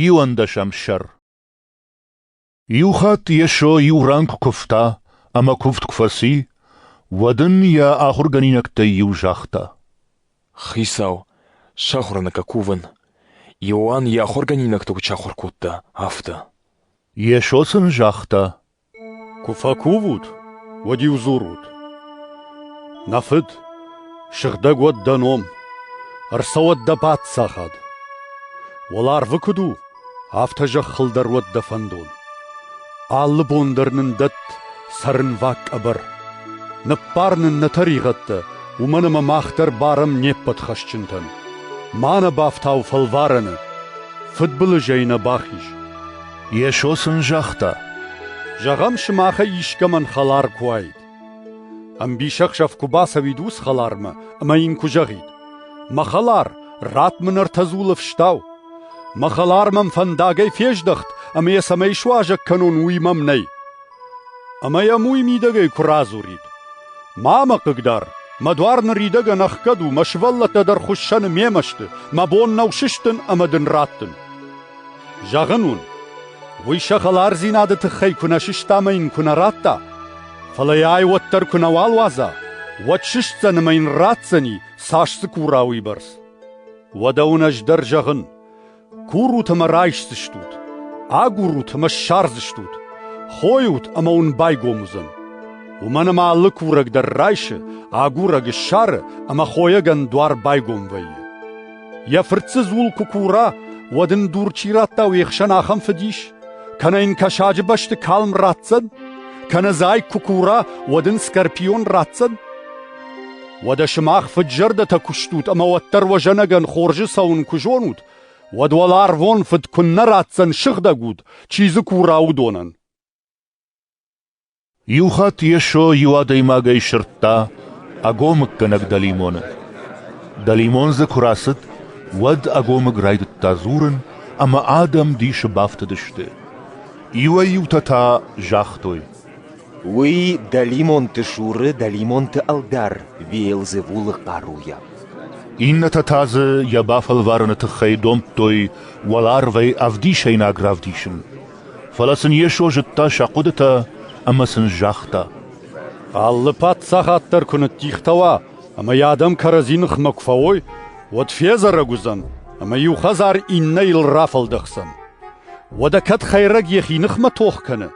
Иуӕндӕсӕм сӕр Иу хатт Йесо иу рӕнхъ куывта ӕмӕ куывд куы фӕци, уӕд ын йӕ ахуыргӕнинӕгтӕй иу загъта: «Хицау, сахуыр нӕ кувын. Иоанн йӕ ахуыргӕнинӕгты куыд сахуыр кодта, афтӕ». Йесо сын загъта: Куы фӕкувут, уӕд-иу дзурут: Нӕ фыд, сыгъдӕг уӕд дӕ ном, ӕрцӕуӕд дӕ паддзахад. Уӕларвы куыд у, афтӕ зӕххыл дӕр уӕд дӕ фӕндон. Алы бон дӕр нын дӕтт цӕрынваг къӕбӕр. Ныббар нын нӕ тӕригъӕдтӕ, уымӕн ӕмӕ мах дӕр барӕм не ппӕт хӕсджынтӕн. Ма нӕ бафтау фӕлварӕны, фыдбылызӕй нӕ бахиз. Йесо сын загъта, Зӕгъӕм, сымахӕй искӕмӕн хӕлар куы уаид. Ӕмбисӕхсӕв куы бацӕуид ус хӕлармӕ ӕмӕ йын куы зӕгъид, «Мӕ хӕлар, ратт мын ӕртӕ дзулы фыстау. Мӕ хӕлар мӕм фӕндагӕй фездӕхт, ӕмӕ йӕ цӕмӕй суазӕг кӕнон, уый мӕм нӕй. Ӕмӕ йӕм уый мидӕгӕй куы радзурид: «Ма мӕ хъыгдар, мӕ дуар ныридӕгӕн ӕхгӕд у, мӕ сывӕллӕттӕ дӕр хуыссӕны мемӕ сты, мӕ бон нӕу сыстын ӕмӕ дын раттын». Зӕгъын уын, уый сӕ хӕлардзинады тыххӕй куы нӕ сыста ӕмӕ йын куы нӕ радта, фӕлӕ йӕ ай уӕддӕр куы нӕ уӕлуадза, уӕд сыстдзӕн ӕмӕ йын ратдзӕни, цас дзы кура, уыйбӕрц. Уӕдӕ уын ӕз дӕр зӕгъын: Курут ӕмӕ райсдзыстут, агурут ӕмӕ ссардзыстут, хойут ӕмӕ уын байгом уыдзӕн. Уымӕн ӕмӕ алы курӕг дӕр райсы, агурӕг ссары ӕмӕ хойӕгӕн дуар байгом вӕййы. Йӕ фырт дзы дзул куы кура, уӕд ын дур чи радта уе хсӕн ахӕм фыдис? Кӕнӕ йын кӕсаджы бӕсты калм ратдзӕн? Кӕнӕ зайг куы кура, уӕд ын скорпион ратдзӕн? Уӕдӕ сымах фыд-зӕрдӕтӕ куы стут ӕмӕ уӕддӕр уӕ зӕнӕгӕн хорзы цӕуын куы зонут, уӕд уӕлӕ арвон фыд куыннӕ ратдзӕн сыгъдӕг уд, чи дзы кура, уыдонӕн. Иу хатт Йесо иу адӕймагӕй сырдта ӕгомыггӕнӕг дӕлимоны. Дӕлимон дзы куы рацыд, уӕд ӕгомыг райдыдта дзурын, ӕмӕ адӕм дисы бафтыдысты. Иуӕй-иутӕ та загътой: Уый дӕлимонты суры дӕлимонты ӕлдар Виелзевулы хъаруйӕ. Иннӕтӕ та дзы йӕ бафӕлварыны тыххӕй домдтой уӕларвӕй ӕвдисӕйнаг равдисын. Фӕлӕ сын Йесо зыдта сӕ хъуыдытӕ ӕмӕ сын загъта: «Алы паддзахад дӕр куы ныддихтӕуа ӕмӕ йӕ адӕм кӕрӕдзи ныхмӕ куы фӕуой, уӕд федзӕрӕг уыдзӕн ӕмӕ иу хӕдзар иннӕйыл рафӕлдӕхдзӕн. Уӕдӕ кӕд хӕйрӕг йӕхи ныхмӕ тох кӕны,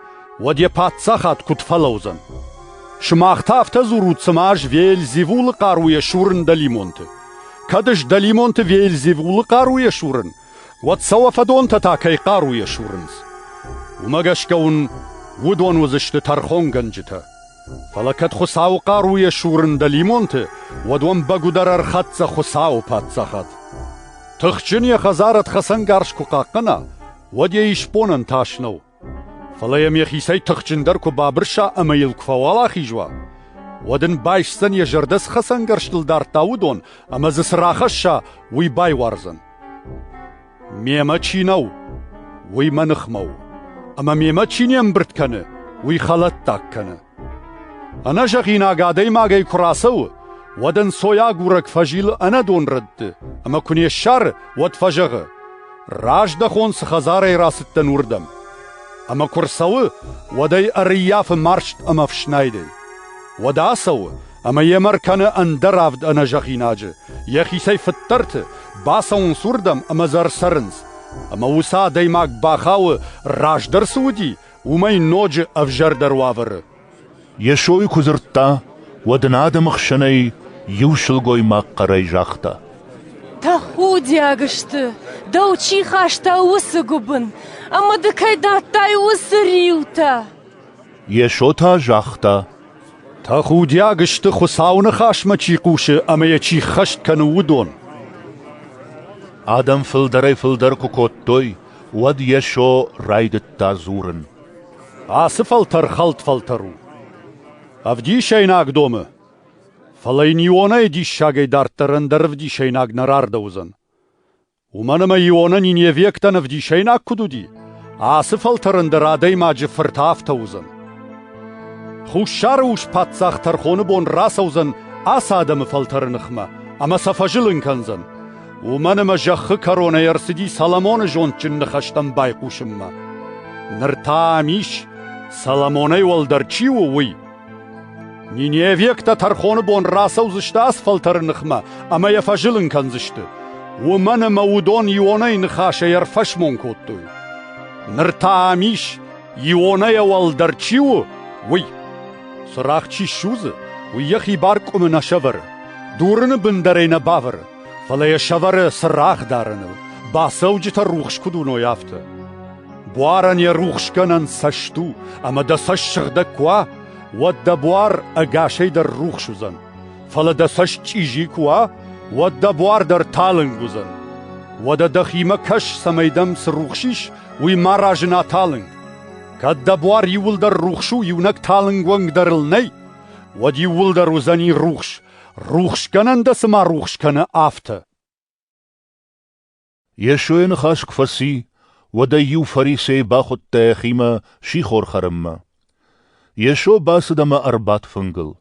уӕд йӕ паддзахад куыд фӕлӕудзӕн? Сымах та афтӕ дзурут, цыма ӕз Вельзевулы хъаруйӕ сурын дӕлимонты. Кӕд ӕз дӕлимонты Вельзевулы хъаруйӕ сурын, уӕд сӕ уӕ фӕдонтӕ та кӕй хъаруйӕ сурынц? Уымӕ гӕсгӕ уын уыдон уыдзысты тӕрхонгӕнджытӕ. Фӕлӕ кӕд Хуыцауы хъаруйӕ сурын дӕлимонты, уӕд уӕм бӕгуыдӕр ӕрхӕццӕ Хуыцауы паддзахад. Тыхджын йӕ хӕдзарад хӕцӕнгарз куы хъахъхъӕна, уӕд йӕ исбонӕн тас нӕу. Фӕлӕ йӕм йӕхицӕй тыхджындӕр куы бабырса ӕмӕ йыл куы фӕуӕлахиз уа, уӕд ын байсдзӕн, йӕ зӕрдӕ цы хӕцӕнгӕрзтыл дардта, уыдон, ӕмӕ дзы цы рахӕсса, уый байуардзӕн. Мемӕ чи нӕу, уый мӕ ныхмӕ у, ӕмӕ мемӕ чи не мбырд кӕны, уый хӕлӕттаг кӕны. Ӕнӕзӕгъинаг адӕймагӕй куы рацӕуы, уӕд ӕнцойагурӕг фӕзилы ӕнӕдон рӕтты ӕмӕ куы не ссары, уӕд фӕзӕгъы: «Раздӕхон цы хӕдзарӕй рацыдтӕн, уырдӕм!» Ӕмӕ куы рцӕуы, уӕд ӕй ӕрыййафы марст ӕмӕ фснайдӕй. Уӕд ацӕуы ӕмӕ йемӕ ркӕны ӕндӕр авд ӕнӕзӕгъинаджы, йӕхицӕй фыддӕрты, бацӕуынц уырдӕм ӕмӕ дзы ӕрцӕрынц. Ӕмӕ уыцы адӕймаг бахауы, раздӕр цы уыди, уымӕй ноджы ӕвзӕрдӕр уавӕры. Йесойы куы дзырдта, уӕд ын адӕмы хсӕнӕй иу сылгоймаг хъӕрӕй загъта: «Тӕхудиаг сты, дӕу чи хаста уыцы гуыбын, ӕмӕ ды кӕй дӕттай уыцы риутӕ!» Йесо та загъта: «Тӕхудиаг сты, Хуыцауы Ныхасмӕ чи хъусы ӕмӕ йӕ чи ххӕст кӕны, уыдон!» Адӕм фылдӕрӕй-фылдӕр куы кодтой, уӕд Йесо райдыдта дзурын: «Ацы фӕлтӕр хӕлд-фӕлтӕр у. Ӕвдисӕйнаг домы, фӕлӕ йын Ионӕйы диссагӕй дарддӕр ӕндӕр ӕвдисӕйнаг нӕ рардӕуыдзӕн. Уымӕн ӕмӕ Ионӕ ниневиӕгтӕн ӕвдисӕйнаг куыд уыди, ацы фӕлтӕрӕн дӕр адӕймаджы фырт афтӕ уыдзӕн. Хуссары ус паддзах тӕрхоны бон рацӕудзӕн ацы адӕмы фӕлтӕры ныхмӕ ӕмӕ сӕ фӕзылын кӕндзӕн. Уымӕн ӕмӕ зӕххы кӕронӕй ӕрцыди Соломоны зондджын ныхӕстӕм байхъусынмӕ. Ныр та ам ис, Соломонӕй уӕлдӕр чи у, уый. Ниневиӕгтӕ тӕрхоны бон рацӕудзысты асфӕлтӕры ныхмӕ ӕмӕ йӕ фӕзылын кӕндзысты, уымӕн ӕмӕ уыдон Ионӕй ныхасӕй ӕрфӕсмон кодтой. Ныр та ам ис, Ионӕйӕ уӕлдӕр чи у, уый. Цырагъ чи ссудзы, уый йӕхи бар къуымы нӕ сӕвӕры, дурыны бын дӕр ӕй нӕ бавӕры. Фӕлӕ йӕ сӕвӕры цырагъ дарыныл, бацӕуджытӕ рухс куыд уыной, афтӕ. Буарӕн йӕ рухсгӕнӕн цӕст у, ӕмӕ дӕ цӕст сыгъдӕг куы уа, уӕд дӕ буар ӕгасӕй дӕр рухс уыдзӕн. Фӕлӕ дӕ цӕст чъизи куы уа, уӕд дӕ буар дӕр талынг уыдзӕн. Уӕдӕ дӕхимӕ кӕс, цӕмӕй дӕм цы рухс ис, уый ма разына талынг. Кӕд дӕ буар иууылдӕр рухс у, иунӕг талынг уӕнгдӕр ыл нӕй, уӕд иууылдӕр уыдзӕни рухс, Рухсгӕнӕн дӕ цыма рухс кӕны, афтӕ. Йесойы ныхас куы фӕци, уӕд ӕй иу фарисей бахуыдта йӕхимӕ сихор хӕрынмӕ. Йесо бацыд ӕмӕ ӕрбадт фынгыл.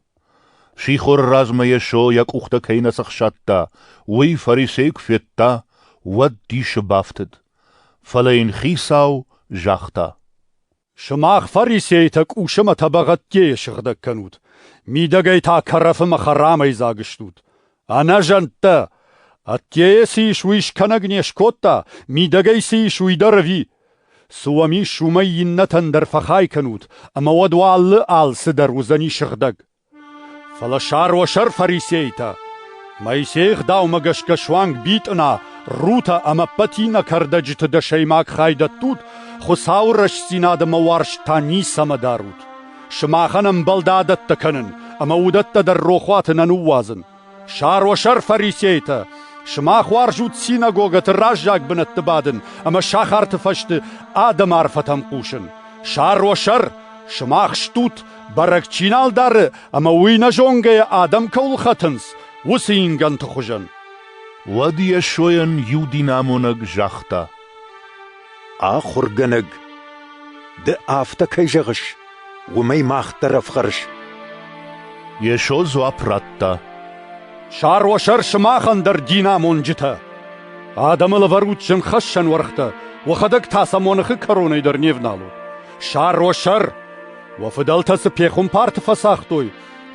Сихоры размӕ Йесо йӕ къухтӕ кӕй нӕ цӕхсадта, уый фарисей куы федта, уӕд дисы бафтыд. Фӕлӕ йын Хицау загъта: Сымах, фарисейтӕ, къусымӕ тӕбӕгъӕдтӕй сыгъдӕг кӕнут, мидӕгӕй та кӕрӕфымӕ хӕрамӕй дзаг стут. Ӕнӕзӕнттӕ! Ӕддейӕ цы ис, уый скӕнӕг не скодта, мидӕгӕй цы ис, уый дӕр ӕви? Цы уӕм ис, уымӕй иннӕтӕн дӕр фӕхай кӕнут, ӕмӕ уӕд уӕ алы алцыдӕр уыдзӕни сыгъдӕг. Фӕлӕ сар уӕ сӕр фарисейтӕ! Моисейы Гъдаумӕ гӕсгӕ суанг битъына, рутӕ ӕмӕ пӕтинӕ кӕрдӕджыты дӕсӕймаг хай дӕттут, Хуыцауы рӕстдзинад ӕмӕ уарзт та ницӕмӕ дарут. Сымахӕн ӕмбал дӕ адӕттӕ кӕнын, ӕмӕ уыдӕттӕ дӕр рохуаты нӕ ныууадзын. Сӕросӕр фарисейтӕ! Сымах уарзут синагогӕты раззаг бынӕтты бадын ӕмӕ сахарты фӕсты адӕмы арфӕтӕм хъусын. Сӕросӕр! Сымах стут, бӕрӕг чи нал дары ӕмӕ уый нӕ зонгӕйӕ адӕм кӕуыл хӕтынц, уыцы ингӕнты хуызӕн. Уӕд Йесойӕн иу динамонӕг загъта: Ахуыргӕнӕг, ды афтӕ кӕй зӕгъыс, уымӕй мах дӕр ӕфхӕрыс. Йесо дзуапп радта. Сӕросӕр сымахӕн дӕр, динамонджытӕ! Адӕмыл ӕвӕрут зынгхӕссӕн уӕргътӕ, уӕхӕдӕг та сӕ моныхы кӕронӕй дӕр не вналут. Сӕросӕр! Уӕ фыдӕлтӕ цы пехуымпарты фӕцагътой,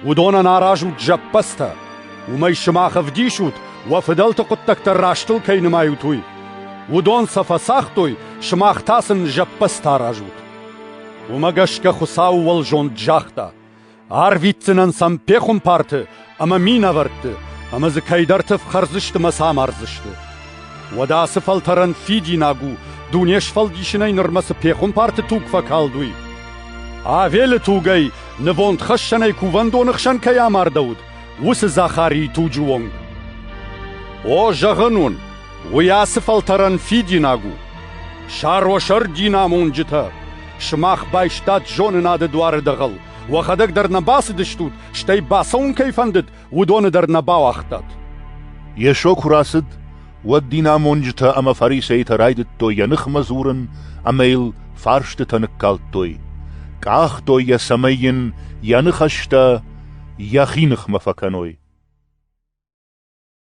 Уыдонӕн аразут зӕппӕдзтӕ. Уымӕй сымах ӕвдисут, уӕ фыдӕлты хъуыддӕгтӕ растыл кӕй нымайут, уый. Уыдон сӕ фӕцагътой, сымах та сын зӕппӕдзтӕ аразут. Уымӕ гӕсгӕ Хуыцау уӕ зонд загъта: арвитдзынӕн сӕм пехуымпарты ӕмӕ минӕвӕртты, ӕмӕ дзы кӕйдӕрты фхӕрдзысты мӕ самардзысты. Уӕдӕ ацы фӕлтӕрӕн фидинаг у, дуне сфӕлдисынӕй нырмӕ цы пехуымпарты туг фӕкалд, уый. Авелы тугӕй нывондхӕссӕнӕй кувӕндоны хсӕн кӕй амардӕуыд, уыцы Захарийы туджы онг. О, зӕгъын уын, уый ацы фӕлтӕрӕн фидинаг у. Сӕросӕр динамонджытӕ, сымах байстат зонынады дуары дӕгъӕл, уӕхӕдӕг дӕр нӕ бацыдыстут, стӕй бацӕуын кӕй фӕндыд, уыдоны дӕр нӕ бауагътат? Йесо куы рацыд, уӕд динамонджытӕ ӕмӕ фарисейтӕ райдыдтой йӕ ныхмӕ дзурын ӕмӕ йыл фарстытӕ ныккалдтой, къахтой йӕ, цӕмӕй йын йӕ ныхӕстӕ йӕхи ныхмӕ фӕкӕной.